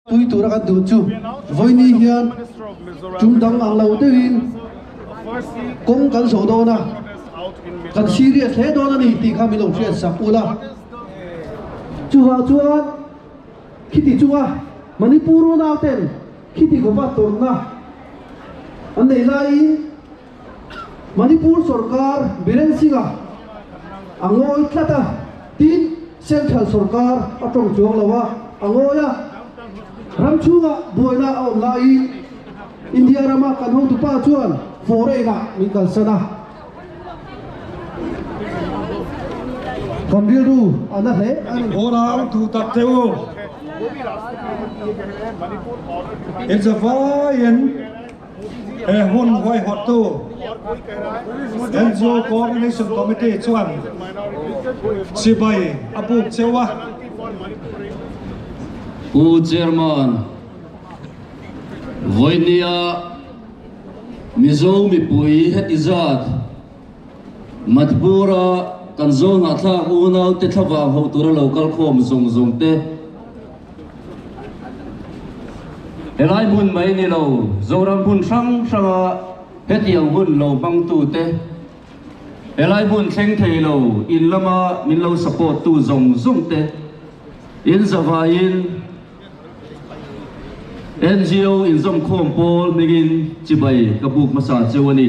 Tui tura kan duh chu vawini hian tum dang ang lo deuhin kawng kan zawh dawn a, kan serious hle dawn a ni tih kha min lo hriat sak ul a. Chuvang chuan khiti chunga Manipur unauten khiti khawpatawrhna an nei laiin, Manipur sawrkar Biren Singha a ngawi tlat a tiin Central sawrkar a tawng chuang lo a, a ngawi a, ram chhunga buaina a awm laiin India rama kan hotupa chuan foreign-ah min kalsan a, kan rilru a na hle a ni. Hawra ang thu tak te u. It's a vaiin. He hmun huaihawttu NGO Coordination Committee chuan chibai a buk cheu a. U Chairman, Vawinia Mizo mipui heti zat Matbura kan Zohnahthlak unaute thlavang ho tura lo kal khawm zawng zawng te, Helai hmun mai ni lo, Zoram hmun hrang hranga heti ang hun lo hmang tu te, helai hmun thleng thei lo in lama min lo support tu zawng zawng te in zavai in NGO inzawmkhawm pawl hming in chibai ka buk hmasa cheu a ni.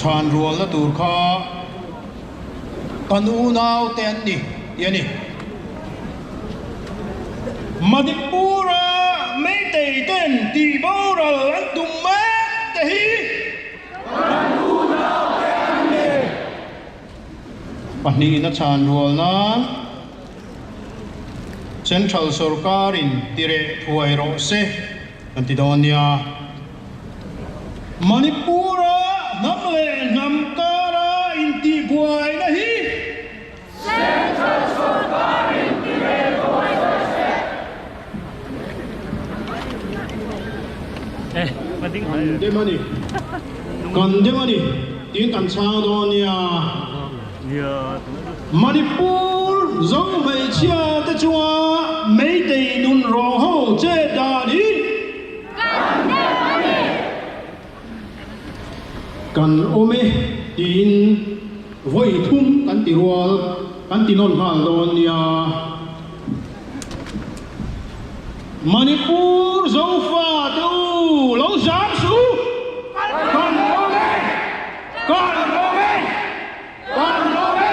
Chhan rualna tur kha kan unaute an ni tih a ni. Manipura Meitei ten tih boral an tum mek te hi kan unaute an ni. Pahnihin a chhan rual nan Central sorkarin ti reh thuai rawh se kan ti dawn nia. Manipura hnam leh hnam kara intihbuaina hi Central sorkarin ti reh thuai rawh se. Kan dem a ni, kan dem a ni tiin kan chhang dawn a nia. Manipur zong hmeichhia te chunga Meitei nun rawng ho che dan hi. Kan dem a ni. Kan awm e tiin vawi thum kan ti rual, kan ti nawn nghal dawn nia. Manipur Zofa te u lo zam su! Kan awm e! Kan awm e! Kan awm e!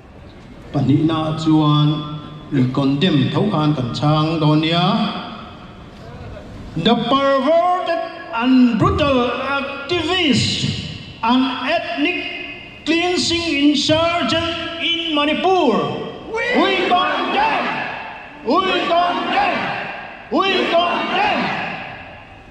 Pahnihna chuan ih condemn tho khan kan chhang dawn nia. The perverted and brutal activist and ethnic cleansing insurgent in Manipur, we condemn! We condemn! We condemn!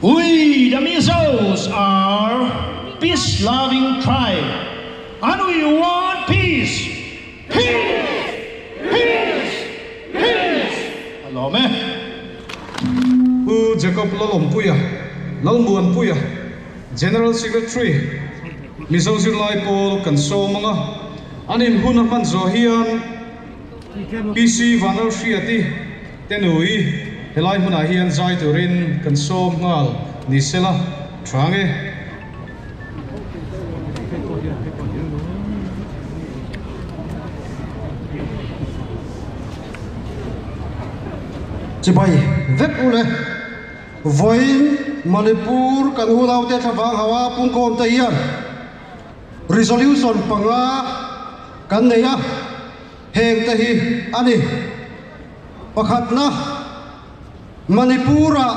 We the Mizos are peace loving tribe and we want peace peace peace peace a lawm e. Pu Jacob Lalawmpuia, Lalmuanpuia, General Secretary, Mizo zirlai pawl kan sawm ang a, an inhuna hman zawh hian, PC Vanralhriati te nui helai hmunah hian zai turin kan sawm nghal ni se la tha nge. Chibai vek u le. Vawiin Manipur kan unaute thlavang ho a pungkhawm te hian Resolution panga kan nei a, heng te hi a ni. Pakhatna, Manipur-a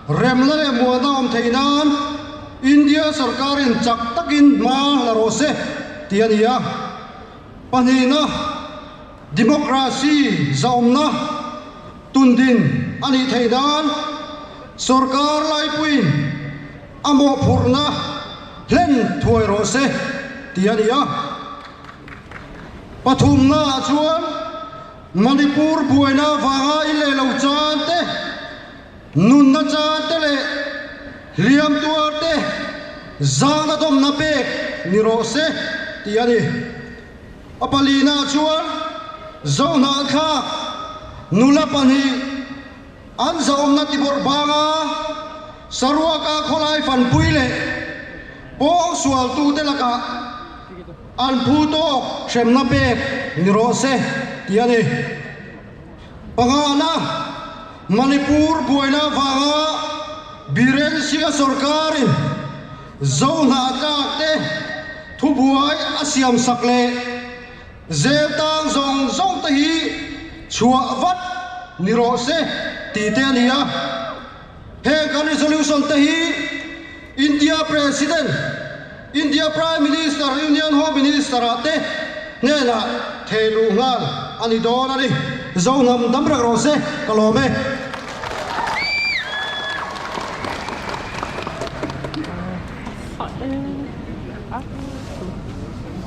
rem leh muana awm theih nan India sawrkarin chak takin hma la rawh se tih a ni a. Pahnihna, Democracy zahawmna tun din a nih theih nan sawrkar laipuiin a mawhphurhna hlen thuai rawh se tih a ni a. Pathumnaah chuan Manipur buaina vanga i leh lo chan te, nunna chan te leh hliam tuar te zangna dawmna pek ni rawh se tih a ni. A palinaah chuan Zohnahthlak nula pahnih, An zahawmna tibawrh banga Sarawaka khawlai fanpui leh pawng sualtute lakah an phu tawk hremna pek ni rawh se tih a ni. Pangngaana, Manipur buaina vanga Biren Singa sawrkarin Zohnah tlakte thubuai a siamsak leh, Zel tang zawng zawng te hi chhuah vat ni rawh se ti te a ni a. Heng kan resolution te hi India President, India Prime Minister, Union Home Minister ah te hnenah thei luh nghal a ni dawn a ni. Zo hnam dam reng rawh se ka lawm e. Hah e. Aa.